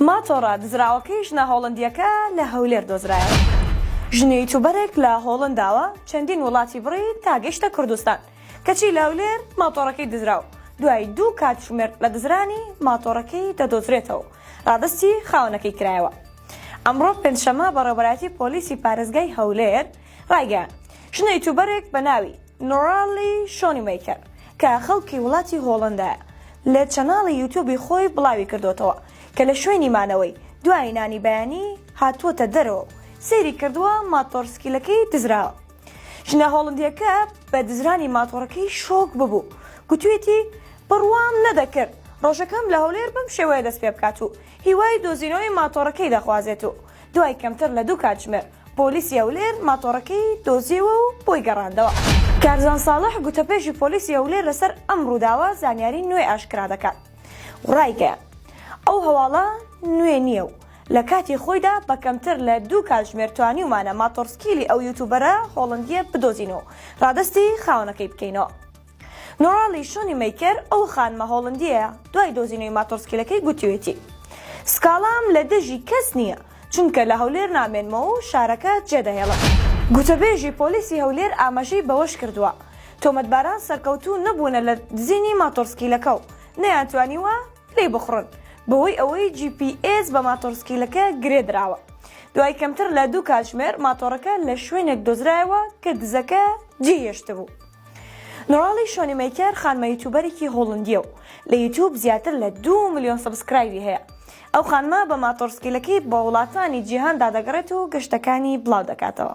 ماتۆڕە دزراوەکەی ژنە هۆڵندییەکە لە هەولێر دۆزرایەوە ژنی یوتوبەرێک لە هۆڵنداوە چەندین وڵاتی بڕی تا گەیشتە کوردستان کەچی لە هەولێر ماتۆڕەکەی دزرا و دوای دوو کاتژمێر لە دزرانی ماتۆڕەکەی دەدۆزرێتەوە و رادەستی خاوەنەکەی کرایەوە ئەمڕۆ پێنجشەممە بەڕێوەبەرایەتی پۆلیسی پارێزگای هەولێر ڕایگەیاند، ژنە یوتوبەرێک بە ناوی، Noraly Schoenmaker، کە خەڵکی وڵاتی هۆڵەندایە، لە چەناڵی یوتوبی خۆی بڵاویکردووەتەوە کە لە شوێنی مانەوەی دوای نانی بەیانی هاتووەتە دەرەوە و سەیری کردووە ماتۆڕسکیلەکەی دزراوە. ژنە هۆڵەندییەکە بە دزرانی ماتۆڕەکەی شۆک ببوو و گوتوویەتی، بڕوام نەدەکرد ڕۆژەکەم لە هەولێر بەم شێوەیە دەستپێبکات و هیوای دۆزینەوەی ماتۆڕەکەی دەخوازێت و دوای کەمتر لە دوو کاتژمێر پۆلیسی هەولێر ماتۆڕەکەی دۆزیەوە و بۆی گەڕاندەوە. کارزان ساڵح، گوتەبێژی پۆلیسی هەولێر لەسەر ئەم رووداوە زانیاری نوێ ئاشکرا دەکات و رایگەیاند، ئەو هەواڵە نوێ نییە و لە کاتی خۆیدا بە کەمتر لە دوو کاتژمێر توانیومانە ماتۆڕسکیلی ئەو یوتوبەرە هۆڵەندییە بدۆزین و رادەستی خاوەنەکەی بکەینەوە. نۆراڵی شۆنی مەیکەر ئەو خانمە هۆڵندییەیە دوای دۆزینەوەی ماتۆڕسکیلەکەی گوتویەتی سکاڵام لە دژی کەس نییە، چونکە لە هەولێر نامێنمەوە و شارەکە جێدەهێڵم. گوتەبێژی پۆلیسی هەولێر ئاماژەی بەوەشکردووە، تۆمەتباران سەرکەوتوو نەبوونە لە دزینی ماتۆڕسکیلەکە و نەیانتوانیوە پلەی بخوڕن، بەهۆی ئەوەی جی پی ئێس بە ماتۆڕسکیلەکە گرێدراوە، دوای کەمتر لە دوو کاتژمێر ماتۆڕەکە لە شوێنێک دۆزرایەوە کە دزەکە جێیهێشتبوو. نوراڵی شۆنیمەیکەر خانمە یوتوبەرێکی هۆڵندیە و لە یوتوب زیاتر لە دوو ملیۆن سەبسکرایبی هەیە ئەو خانمە بە ماتۆڕسکیلەکەی بە وڵاتانی جیهاندا دەگەڕێت و گەشتەکانی بڵاو دەکاتەوە.